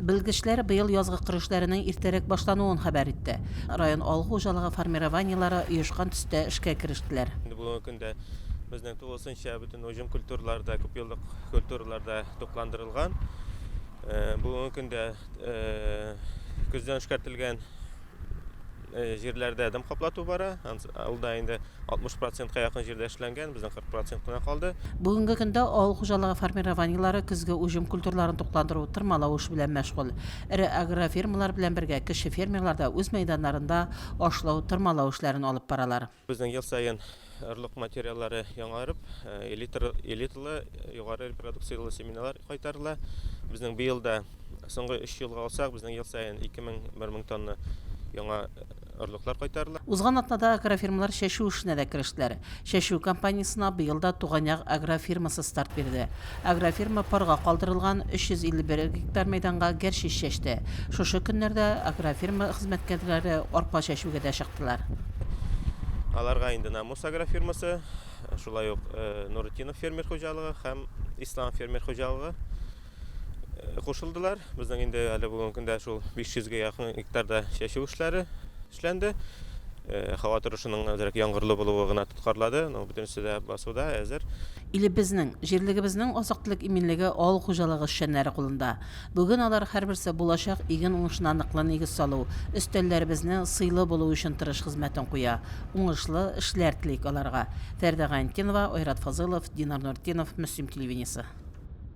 Белгечләр быел язгы кыр эшләренең иртәрәк башлануын хәбәр итте. Район авыл хуҗалыгы формированиеләре оешкан төстә эшкә керештеләр. Инде бүгенге көндә безнең тулысынча бөтен уҗым культуралары да, күпьеллык культуралар да тукландырылган. Бүгенге көндә көздән эшкәртелгән э, җирләрдә дым каплату бара. Ул да инде 60 процентка якын җирдә эшләнгән, безнең 40 процент кына калды. Бүгенге көндә авыл хуҗалыгы формированиеләре көзге уҗым культураларын тукландыру, тырмалау эше белән мәшгуль. Эре агрофирмалар белән бергә кече фермерлар да үз мәйданнарында ашлау, тырмалау эшләрен алып баралар. Безнең ел саен орлык материаллары яңарып, элиталы, югары репродукцияле семеналар кайтарыла. Безнең быел да, соңгы өч елга алсак, безнең ел саен 2000-1000 тонна яңа орлыклар кайтарыла. Узган атнада агрофирмалар чәчү эшенә дә керештеләр. Чәчү кампаниясенә быел да Туган як агрофирмасы старт бирде. Агрофирма парга калдырылган 351 гектар мәйданга гәрчич чәчте. Шушы көннәрдә агрофирма хезмәткәрләре арпа чәчүгә дә чыктылар. Аларга инде Намус агрофирмасы, шулай ук Нуретдинов фермер хуҗалыгы һәм Ислам фермер хуҗалыгы кушылдылар. Безнең инде әле бүгенге көндә шул 500 гә якын гектарда чәчү эшләре. Эшләнде. Һава торышының әзрәк яңгырлы булуы гына тоткарлады, но бөтенесе дә басуда, әзер. Илебезнең, җирлегебезнең азык-төлек иминлеге авыл хуҗалыгы эшчәннәре кулында. Бүген алар һәрберсе булачак иген уңышына ныклы нигез салу, өстәлләребезне сыйлы булу өчен тырыш хезмәтен куя. Уңышлы эшләр телик аларга. Фәрдә Гайнтдинова, Айрат Фазылов, Динар Нуртдинов, Мөслим телевидениесе.